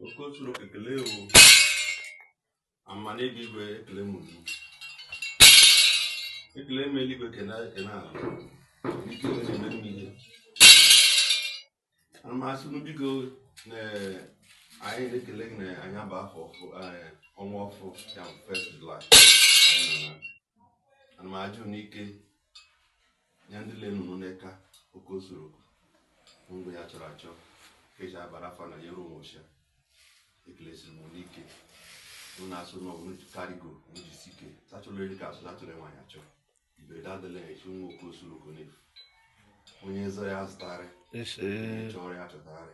Okosoroko ekele ewu amana ebe igwe ekele m unu ekele m eluigwe ekele ekele ala ike wee na-eme m ihe ana m asị unu biko na anyị na-ekele na anyị aba afọ ọfụ eh, ọnwa ọfụ ya bụ first July anyị nọ na ana m ajụ unu ike ya ndị le nnụnụ n'eka Okosoroko mgbe ya chọrọ achọ ka eji abara afa na nyere ụmụ ọcha ekelesi m unu ike mụ na-asụ na ọbụla ji karigo jisike achọrọ eri ka asụ achọrọ nwaanyị achọ iberede adịla ya echi nwa Okosoroko na-efu onye zọ ya zụtarị onye chọrọ ya chọtarị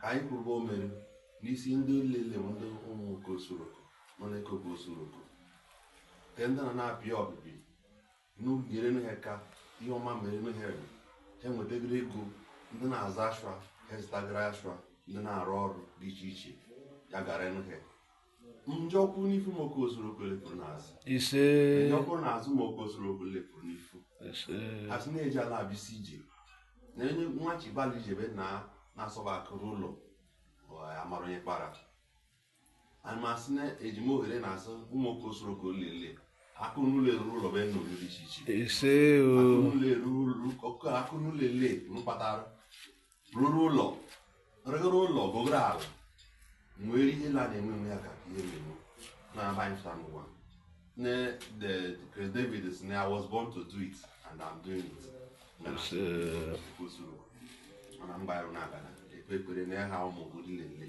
ka anyị kwuruba o mere n'isi ndị lele ndị ụmụ Okosoroko nọ n'eka Okosoroko nke ndị na na-apịa ọbịbị n'ugere na ka ihe ọma mere na ha ha nwetagara ego ndị na-aza ashwa ha zụtagara ashwa ndị na-arụ ọrụ dị iche iche ya gara nụ ha njọ kwụ n'ifu ụmụ Okosoroko le pụrụ n'azụ ise njọ kwụ n'azụ ụmụ Okosoroko le pụrụ n'ifu ise asị na-eji ala abịsị ije na onye nwa chibali ijebe na na-asọba akụ ruo ụlọ amara onye kpara ana m asị na eji m ohere na-asụ ụmụ Okosoroko lele akụ n'ụlọ eru ụlọ be unu dị iche iche ise o akụ n'ụlọ eru ụlọ- akụ n'ụlọ ele mkpatara ruru ụlọ ruru ụlọ gogoro ala nwere ihe la na-enwe enwe ya ka ihe na-enwe na-aba fụta n'ụwa ne the Chris David sị na I was born to do it and I'm doing it mana kwụsịrị mana m gbara na-abana ekpe ekpere na ya ha ụmụ obodo niile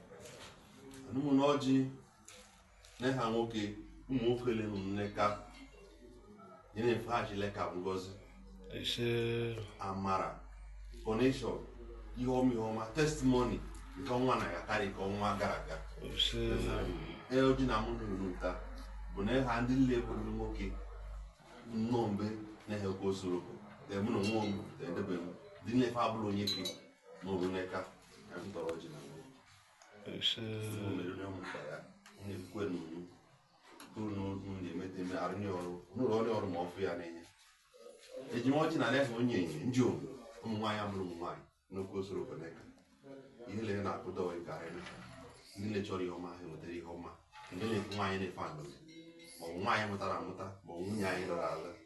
ụmụnne ọjị ne ha nwoke ụmụ nwoke le nne ka ya na-efe ha chile ka ngozi amara connection ihe ọma ihe ọma testimony nke ọnwa na ya karị ka ọnwa gara aga ee ọjị na mụ nụrụ nta bụ na ha ndị nle bụrụ nwoke nnọọ mgbe na-ehe Okosoroko mụ na onwe m edebe m dị nlefe abụrụ onye ke n'oru n'eka ka m tọrọ ji na mmiri mmiri onye ọmụ kpara onye kwe n'uru kwuru na otu na-emete eme arụ nye ọrụ n'ụlọ ọrụ ọrụ ma ọ fụ ya na-enye ejima ọchị na na-efe onye enyi ndị omu ụmụ nwaanyị amụrụ ụmụ nwaanyị n'Okosoroko n'eka ihe lere na-akụda ọyị ka anyị ndị na-echọrọ ihe ọma ha enwetara ihe ọma ndị na-efe nwaanyị na-efe anụ ma ọ bụ nwaanyị mụtara amụta ma ọ bụ nwunye anyị lụrụ alụ